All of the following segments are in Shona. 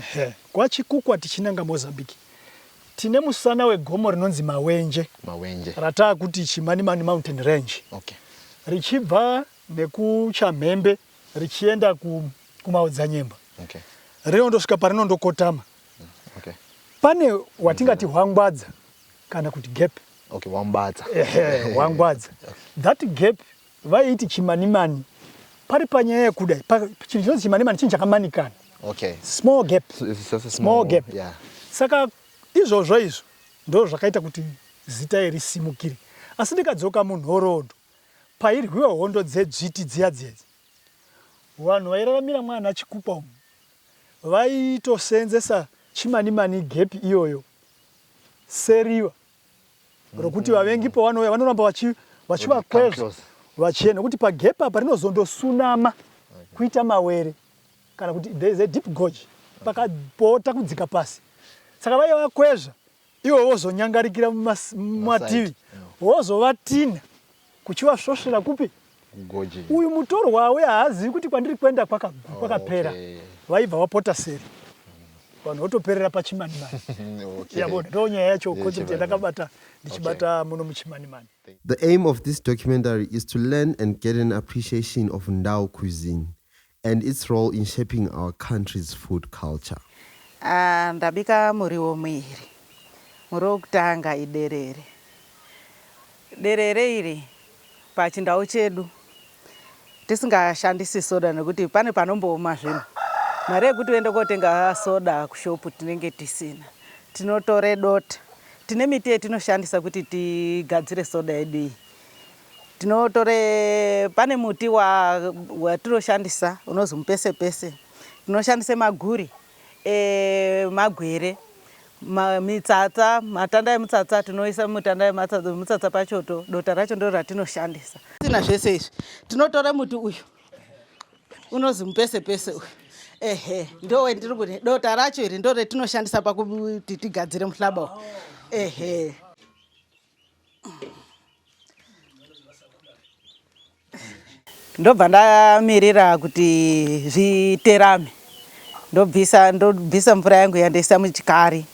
Ehe kwa Chikukwa tichinanga Mozambique tine musana wegomo rinonzi Mawenje, Mawenje. rataakuti Chimanimani Mountain Range. Okay. Richibva nekuChamhembe richienda ku, kuMaodzanyemba. Okay. Rinondosvika parinondokotama. Okay. Pane watingati hwangwadza kana kuti gap. Okay, wambadza. Ehe, hwangwadza. That gap Vaiti chimanimani pari panyaya yekuda chinhu chinonzi chimanimani chinhu chakamanikana okay. small gap. Small, small gap yeah. Saka izvozvo izvo ndo zvakaita kuti zita iri simukire asi ndikadzoka munhoroondo pairwiwa hondo dzedzviti dziya dziedzi vanhu vairaramira mwana chikukwa umu vaitoseenzesa chimanimani gepi iyoyo seriva rokuti vavengi pavanouya vanoramba vachi vachivakwezva vachienda nokuti pagep apa rinozondosunama kuita mawere kana kuti there is a deep gorge pakapota kudzika pasi saka vaiva vakwezva ivo vozonyangarikira mumativi vozovatinha Kuchivasvosvera kupi? Kugoji. Uyu mutorwa uya haazivi kuti kwandiri kuenda kwakagwi kwakapera. Oh, okay. Vaibva vapota seri. Vanhu votoperera pachimanimani. okay. Yabo ndo nyaya yacho concept yandakabata ndichibata okay. muno muchimanimani. The aim of this documentary is to learn and get an appreciation of Ndau cuisine. and its role in shaping our country's food culture. Aah ndabika muriwo muiri. Muriwo wekutanga iderere. Derere iri pachindau chedu tisingashandisi soda nekuti pane panombooma zvinhu. Mari yekuti uende kotenga soda kushop tinenge tisina. Tinotore dota. Tine miti yetinoshandisa kuti tigadzire soda yedu iyi. Tinotore pane muti watinoshandisa unonzi mupesepese, tinoshandisa maguri emagwere, mitsatsa, matanda emutsatsa tinoisa mutanda emutsatsa pachoto, dota racho ndiro ratinoshandisa. Tina zvese izvi tinotora muti uyu unonzi mupesepese uyu ehe ndowe ndiri kuti dota racho iri ndo retinoshandisa pakuti tigadzire muhlaba uyu ehe. ndobva ndamirira kuti zviterame ndobvisa ndobvisa mvura yangu yandaisa muchikari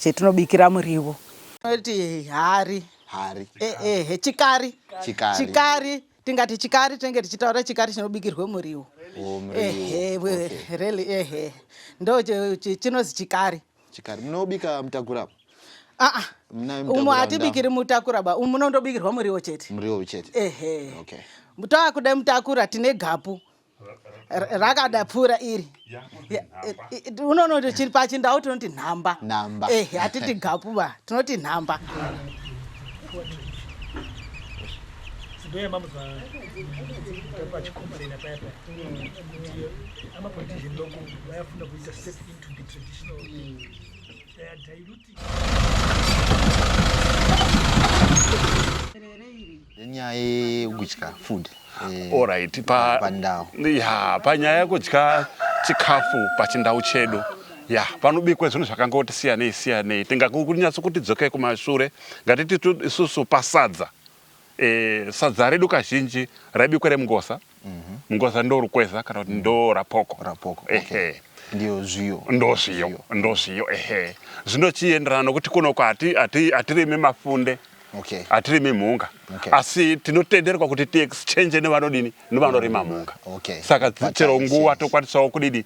chetinobikira muriwo noti hari hari eh, eh, chikari chikari, chikari tingati chikari tinenge tichitaura chikari chinobikirwe muriwo oh, really ehe ndo chinozi chikari Chikari munobika mutakura apa? Ah, ah. umu hatibikiri mutakura ba umu munondobikirwa muriwo chete muriwo chete ehe okay. toakuda mutakura tine gapu rakada pfuura iri unono chiri pachindau tinoti nhamba ehe hatiti gapu ba tinoti nhamba ndoya mamuzwa pachikomborena paya paya kuti amapolitician loko vayafunda kuita step in nenyaya yekudya food eh, Alright, pa pandau ya panyaya yekudya chikafu pachindau chedu ya panobikwa zvinhu zvakangoti siyanei siyanei tingakunyatso kuti dzokei kumashure ngatiti tu- isusu pasadza e, sadza redu kazhinji raibikwa remungoza mm -hmm. mungoza ndo rukweza kana kuti ndo rapoko, rapoko. Okay. Ehe ndio zviyo ndo zviyo ndo zviyo ehe zvino chienderana nokuti kuno kwati ati atirime mafunde okay. atirimi mhunga okay. asi tinotenderwa kuti tiexchange nevanodini nevanorima mhunga okay. saka chero nguva tokwanisawo kudidi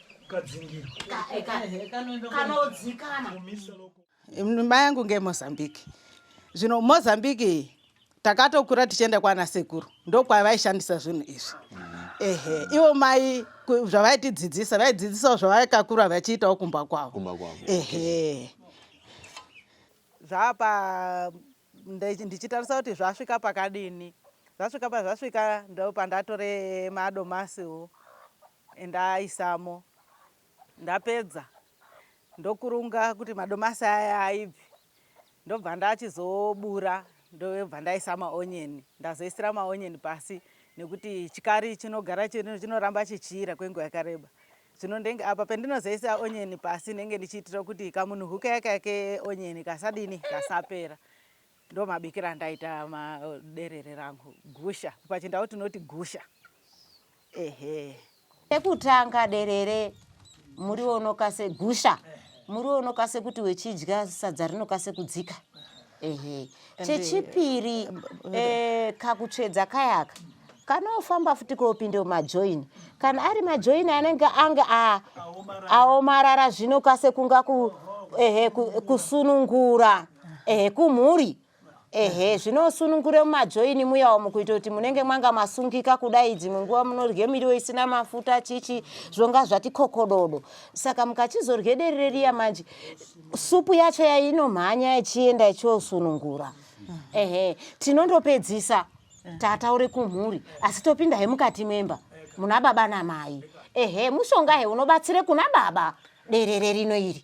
mai yangu ngemozambique zvino mozambique iyi takatokura tichienda kwana sekuru ndokwavaishandisa zvinhu izvi ehe ivo mai zvavaitidzidzisa vaidzidzisawo zvavaikakura vachiitawo kumba kwavo ehe zvaapa ndichitarisa kuti zvasvika pakadini zvasvika pazvasvika ndopandatoremadoma siwo Ndaaisamo ndapedza ndokurunga kuti madomasi aya aibvi ndobva ndachizobura ndobva ndaisa maonyeni ndazoisira maonyeni pasi nekuti chikari chinogara chinoramba chichiira kwenguva yakareba zvino ndenge apa pendinozoisa onyeni pasi ndenge ndichiitira kuti kamunhuhuka yaka keonyeni kasadini kasapera Ndomabikira andaita maderere rangu gusha pachindau tinoti gusha ehe. Chekutanga derere muriwo unokase gusha muriwo unokase kuti wechidya sadza rinokase kudzika ehe. Chechipiri eh, kakutsvedza kayaka kana ofamba futi kopinda majoin kana ari majoin anenge ange aomarara zvino kase kunga ku, ehe, kusunungura ehe, kumhuri ehe zvinosunungure mumajoini muyawo mukuita kuti munenge mwanga masungika kudai dzimwe nguva munorye miriwo isina mafuta chichi zvonga zvati kokododo saka mukachizorye derere riya manje supu yacho yainomhanya ichienda ichiosunungura ehe tinondopedzisa tataure kumhuri asi topinda he mukati memba muna baba namai ehe mushonga he unobatsire kuna baba derere rino iri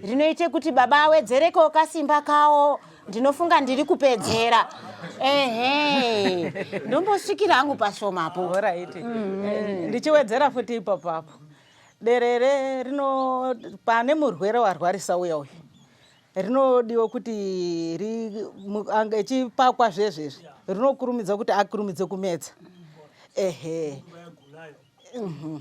rinoite kuti baba awedzerekewo kasimba kawo ndinofunga ndiri kupedzera ehe ndombosvikira angu pashomapo orit mm. eh, ndichiwedzera futi ipapo apo derere rino pane murwere warwarisa uya uyu rinodiwa kuti echipakwa zvezvezvi rinokurumidza kuti akurumidze kumedza ehe mhm.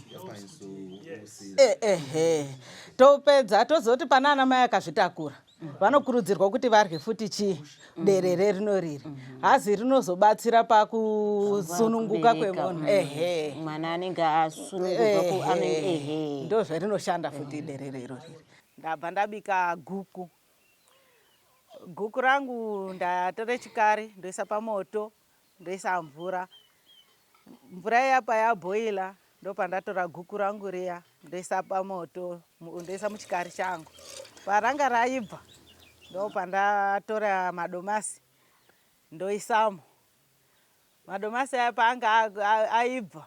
eh, ehe topedza tozoti pana ana mai akazvitakura vanokurudzirwa kuti varye futi chii derere rino riri hazi rinozobatsira pakusununguka kwemunhu ehe mwana anenge asununguka ndozvarinoshanda futi derere iro riri Ndabva ndabika guku. Guku rangu ndatore chikari ndoisa pamoto ndoisa mvura. Mvura iya payaboila ndopandatora guku rangu riya ndoisa pamoto ndoisa muchikari changu. Paranga raibva ndopandatora madomasi ndoisamo. Madomasi aya paanga aibva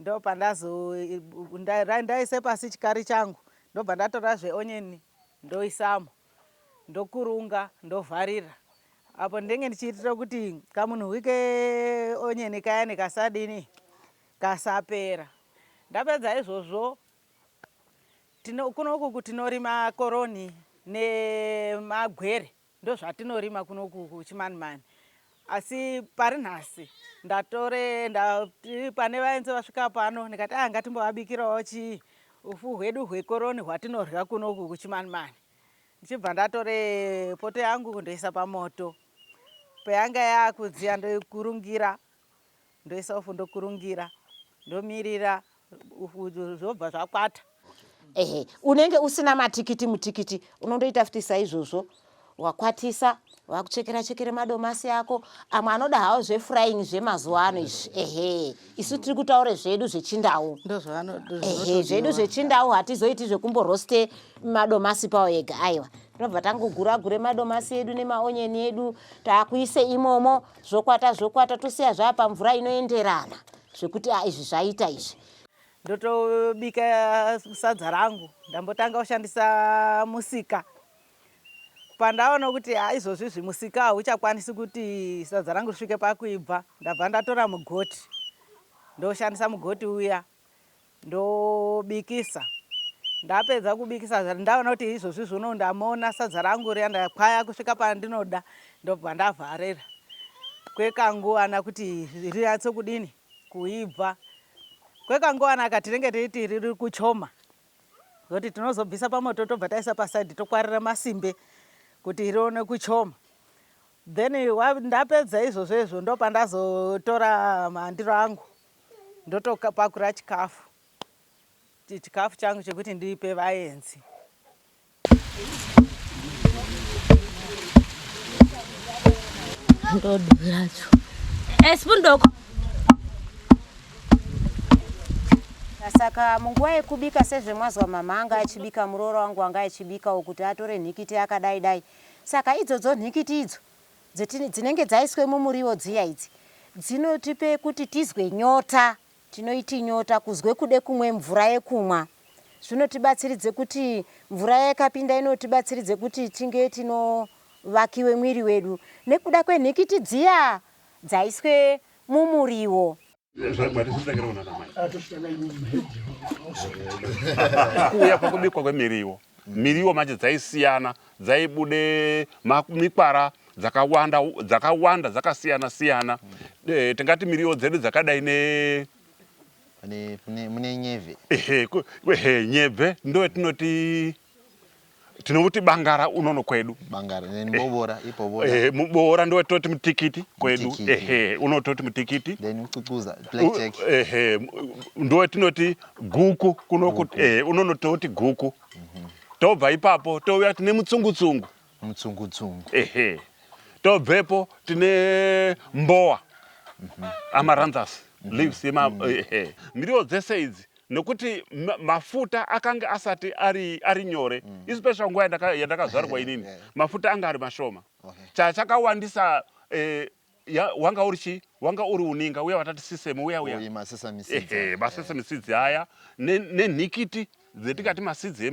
Ndopandazo ndaise pasi chikari changu ndobva ndatora zveonion ndoisamo ndokurunga ndovharira apo ndenge ndichiitira kuti kamunhuwi keonion kayani kasadini kasapera ndapedza izvozvo tino kunoku tinorima koroni nemagwere Ndozvatinorima kuno kuchimanimani asi pari nhasi ndatore ndati pane vainzi vasvika pano ndikati aa ah, ngatimbovabikirawo chii ufu hwedu hwekoroni hwatinorya kuno uku kuchimanimani ndichibva ndatore poto yangu ndoisa pamoto payanga yakudziya ndoikurungira Ndoisa upfu ndokurungira ndomirira zvobva zvakwata. Ehe, unenge usina matikiti mutikiti unondoita futi saizvozvo wakwatisa vakuchekera chekera madomasi ako amwe anoda hawo zvefrying zvemazuva ano izvi ehe isu tiri kutaura zvedu zvechindau ehe zvedu zvechindau hatizoiti zvekumboroste madomasi pawo ega aiwa tinobva tangogura gure madomasi edu nemaonyeni edu taakuise imomo zvokwata zvokwata tosiya zvaa pamvura inoenderana zvekuti a izvi zvaita izvi ndotobika sadza rangu ndambotanga kushandisa musika pandaona kuti ha izvozvi zvimusika hauchakwanisi kuti sadza rangu risvike pakuibva ndabva ndatora mugoti ndoshandisa mugoti uya ndobikisa ndapedza kubikisa ndaona kuti izvozvi zvono ndamona sadza rangu riya ndakwaya kusvika pandinoda ndobva ndavharira kwekanguvana kuti rinyatso kudini kuibva kwekanguvana ka tinenge teiti riri kuchoma zoti tinozobvisa pamoto tobva taisa pasaidi tokwarira masimbe kuti rione kuchoma then ndapedza izvozvo izvo ndopandazotora mandiro angu ndotopakura chikafu chikafu changu chekuti ndipe vaenzi ndodiracho esipundoko eh, saka munguva yekubika sezvemwazwa mama anga achibika muroora wangu anga achibikawo kuti atore nhikiti akadai dai saka idzodzo nhikiti idzo Dzeti dzinenge dzaiswe mumuriwo dziya idzi dzinotipe kuti tizwe nyota tinoiti nyota kuzwe kude kumwe mvura yekumwa zvinotibatsiridze kuti mvura iya ikapinda inotibatsiridze kuti tinge tino vakiwe mwiri wedu nekuda kwenhikiti dziya dzaiswe mumuriwo. kuuya kwekubikwa kwemiriwo miriwo manje dzaisiyana dzaibude mikwara dzakawanda dzakawanda dzakasiyana siyana eh, tingati miriwo dzedu dzakadai ne mune nyebve ehe nyebve ndo yatinoti tinomuti bangara unono kwedu bangara then eh, bobora eh, ibobora eh mubora ndo toti mutikiti kwedu mutikiti. ehe unototi mutikiti then ucucuza black jack ehe ndo tinoti guku kuno kuti eh unono toti guku mm -hmm. tobva ipapo touya tine mutsungutsungu mutsungutsungu ehe tobvepo tine mbowa mm -hmm. amaranthus mm -hmm. leaves yema mm -hmm. ehe miriwo dzese idzi nekuti mafuta akange asati ari, ari nyore mm. especially nguva yandaka, yandakazvarwa inini yeah. mafuta anga ari mashoma okay. chachakawandisa eh, ya, wanga uri chi wanga uri uninga uya watati sisemu uya uya masesa misidzi aya nenhikiti ne dzetikati masidzi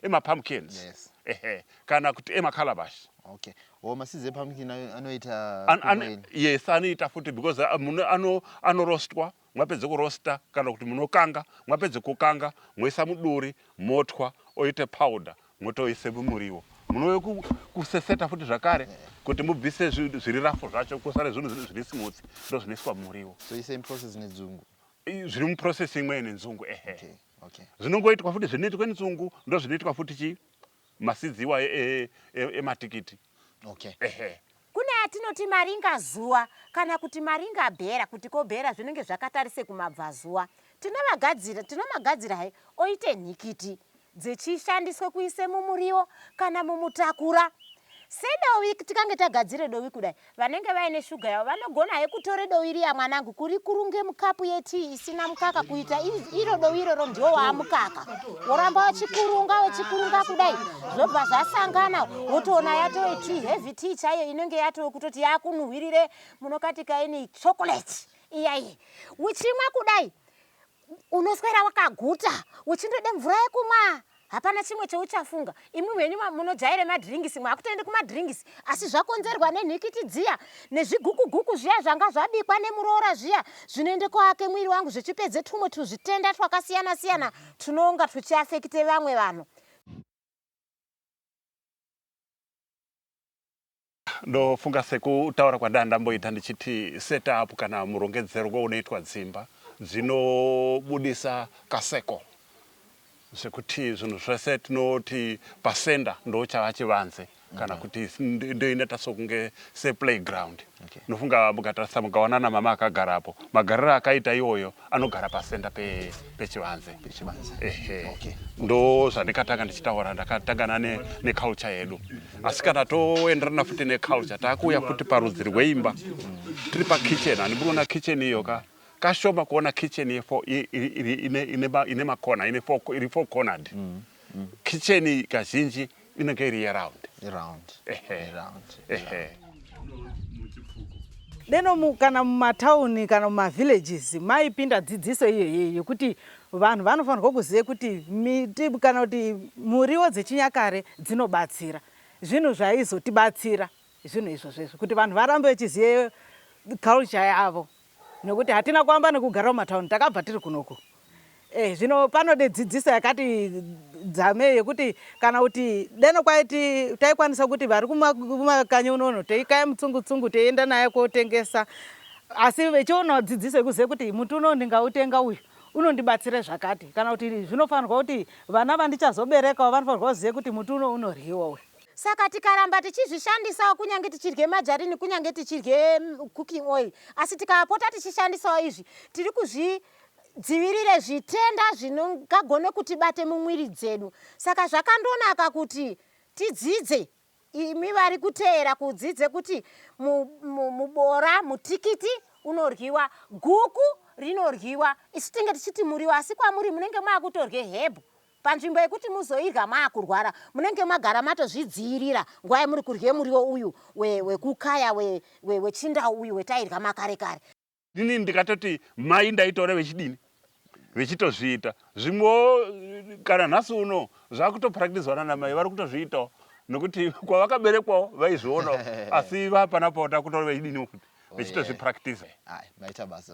emapumpkins ema yes. ehe kana kuti emakalabashi okay or masidzi epumpkin anoita an, an, yes anoita futi because uh, muno ano anorostwa Mwapedza kuroaster kana kuti munokanga, mwapedza kukanga moisa muduri motwa oita powder motoisa mumuriwo. Munouya kuseseta futi zvakare kuti mubvise zviri rafu zvacho kusare zvinhu zviri smooth ndozvinoiswa mumuriwo. So same process nedzungu. Zviri muprocess imwe nenzungu ehe. Okay. Okay. Zvinongoitwa futi zvinoitwa nenzungu ndozvinoitwa futi chi Maseeds iwayo ematikiti. Okay. Ehe. Kune atinoti maringazuva kana kuti maringabhera kuti ko bhera zvinenge zvakatarise kumabvazuva. Tinomagadzira, tinomagadzira he oite nhikiti dzechishandiswe kuise mumuriwo kana mumutakura sedovi tikange tagadzire dovi kudai Vanenge vaine sugar yavo vanogona he kutore dowi riya mwanangu kurikurunge mukapu yetii isina mukaka kuita iro dowi iroro ndiwo waamukaka woramba wachikurunga wachikurunga kudai zvobva zvasangana wotoona yatove tii heavy tii chaiyo inenge yatove kutoti yakunuhwirire munokatikaini chocolate iyaiye uchimwa kudai Unoswera wakaguta uchindoda mvura yekumwa hapana chimwe chauchafunga. Imwi henyu munojaira madrinks makutoenda kumadrinks asi zvakonzerwa nenhikiti dziya nezvigukuguku zviya zvanga zvabikwa nemuroora zviya zvinoenda koake mwiri wangu zvechipedza twumwe twuzvitenda twakasiyana siyana twunonga twuchiafekita vamwe vanhu. Ndofunga sekutaura kwandanga ndamboita ndichiti set up kana murongedzerwo unoitwa dzimba dzinobudisa kaseko zvekuti zvinhu zvese tinoti pasenda ndochava chivanze kana kuti ndoineta sokunge seplayground Okay. ndofunga mukatarisa mukaona namama akagarapo magariro akaita iwoyo anogara pasenda pechivanze pe ehe okay. ndo zvandikatanga ndichitaura ndakatangana neculture ne yedu asi kana toenderana futi neculture taakuuya futi parudzi rweimba tiri pakitchen handimunoona kitchen iyo ka kashoma kuona kitchen ine makona iri four cornered mm, mm. kitchen kazhinji inenge iri yeround yeround yeround deno kana mumatauni kana mumavillages maipinda dzidziso iyoyeyi yekuti vanhu vanofanirwa kuziva kuti miti kana kuti muriwo dzechinyakare dzinobatsira zvinhu zvaizotibatsira zvinhu izvozvo izvo kuti vanhu varambe vechiziva culture yavo Nokuti hatina kuamba nokugara mumatauni, takabva tiri kunoku. Eh, zvino panode dzidziso yakati dzamei yokuti kana kuti deno kwaiti taikwanisa kuti vari kuma- kumakanyi unono teikaya mutsungu-tsungu teienda naye kotengesa. Asi vechionawo dzidziso yekuziva kuti muti uno ndingautenga uyu unondibatsira zvakati. Kana kuti zvinofanirwa kuti vana vandichazoberekawo vanofanirwa kuziva kuti muti uno unoryiwa uyu. Saka tikaramba tichizvishandisawo kunyange tichirye majarini kunyange tichirye mm, cooking oil asi tikapota tichishandisawo izvi tiri kuzvi dzivirire zvitenda zvinogagone kuti bate mumwiri dzedu saka zvakandonaka kuti tidzidze imi vari kuteera kudzidze kuti mubora mutikiti unoryiwa guku rinoryiwa isu tinge tichiti muriwo asi kwamuri munenge maakutorye hebhu Panzvimbo yekuti muzoirya maakurwara, munenge magara matozvidziirira nguva yemuri kurya muriwo uyu we, wekukaya we, we, wechindau uyu wetairya makare kare. Inini ndikatoti mai ndaitaura vechidini? Vechitozviita. Zvimwewo kana nhasi uno zvakutopractiswa nanamai vari kutozviitawo nokuti kwavakaberekwawo vaizvionawo asi vapanapo takutoona vechidiniwo futi vechitozvipractisa. Ayi, maita basa.